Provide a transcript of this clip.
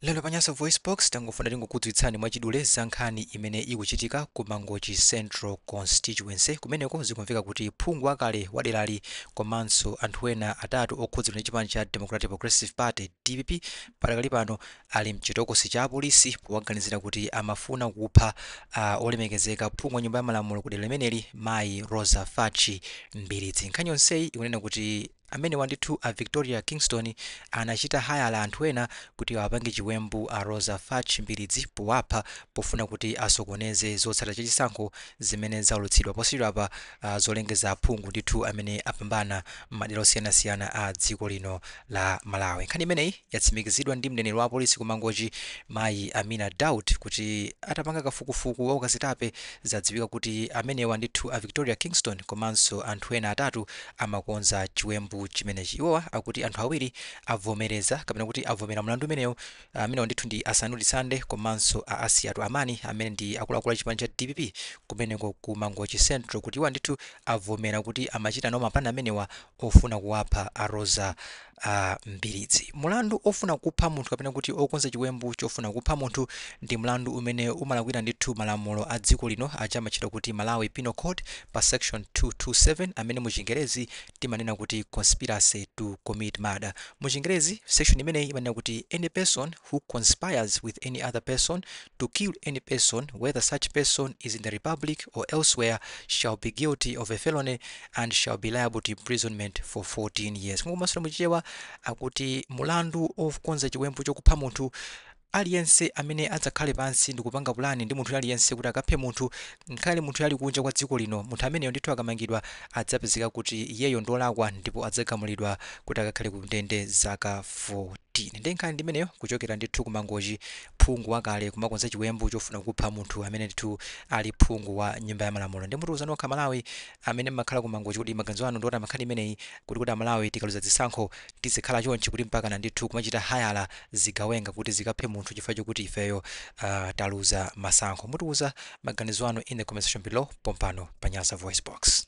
lero pa nyasa voicebox tangofuna tingokudziwitsani mwachidule za nkhani imene ikuchitika ku mangochi central constituency kumeneko zikumveka kuti phungu wakale wa derali komanso anthu ena atatu okhudzidwa ndi chipani cha democratic progressive party dpp patakali pano ali mchitokosi cha apolisi powaganizira kuti amafuna kupha uh, olemekezeka phungu wa nyumba ya malamulo ku dera limeneli mayi roza fatch mbilizi nkhani yonseyi ikunena kuti Amenewa ndithu a Victoria Kingstone anachita hayala anthu ena kuti awapange chiwembu a Roza Fatch Mbilizi powapha pofuna kuti asokoneze zotsatira za chisankho zimene zaulutsidwa posachedwapa zolengeza aphungu ndithu amene apambana m'madera osiyanasiyana a dziko lino la Malawi. Nkhani imeneyi yatsimikizidwa ndi mneneri wa apolisi ku Mangochi mayi Amina Daud kuti atapanga kafukufuku wa ukazitape zadziwika kuti amenewa ndithu a Victoria Kingstone komanso anthu ena atatu amakonza chiwembu chimenechi. Iwowa akuti anthu awiri avomereza kapena kuti avomera mlandu umenewu. Amenewa ndithu ndi a Sanudi Sande komanso a Asiyatu Amani amene ndi akuluakulu a chipani cha dpp kumeneko ku Mangochi Central kuti iwo ndithu avomera kuti amachita nawo mapulani amenewa ofuna kuwapha a Roza Mbilizi, Mulandu ofuna kupha munthu kapena kuti okonza chiwembu chofuna kupha munthu ndi mlandu umene umalakwira ndithu malamulo a dziko lino aja amatchedwa kuti Malawi Penal Code pa section 227 amene mu chingerezi timanena kuti Conspiracy to Commit Murder. Mu chingerezi section imeneyi imanena kuti any person who conspires with any other person to kill any person, whether such person is in the Republic or elsewhere, shall be guilty of a felony and shall be liable to imprisonment for 14 years. Kumasulira muchichewa akuti mulandu okonza chiwembu chokupha munthu aliyense amene adzakhale pansi ndi kupanga pulani ndi munthu aliyense kuti akaphe munthu ngakhale munthuyo ali kunja kwa dziko lino munthu ameneyo ndithu akamangidwa adzapezeka kuti iyeyo ndolakwa ndipo adzagamulidwa kuti akakhale ku ndende zaka 14 nde nkhani ndimeneyo kuchokera ndithu ku mangochi phungu wakale kumakonza chiwembu chofuna kupha munthu amene ndithu ali phungu wa nyumba ya malamulo nde mutiuza nokha amalawi amene mmakhala kumangochi kuti maganizo anu ndiotani pa nkhani imeneyi kuti kuti amalawi tikaluza zisankho tizikhala chonchi kuti mpakana ndithu kumachita hayala zigawenga kuti zikaphe munthu chifukwa chokuti ifeyo uh, taluza masankho mutiuza maganizo anu in the comment section below pompano pa nyasa voice box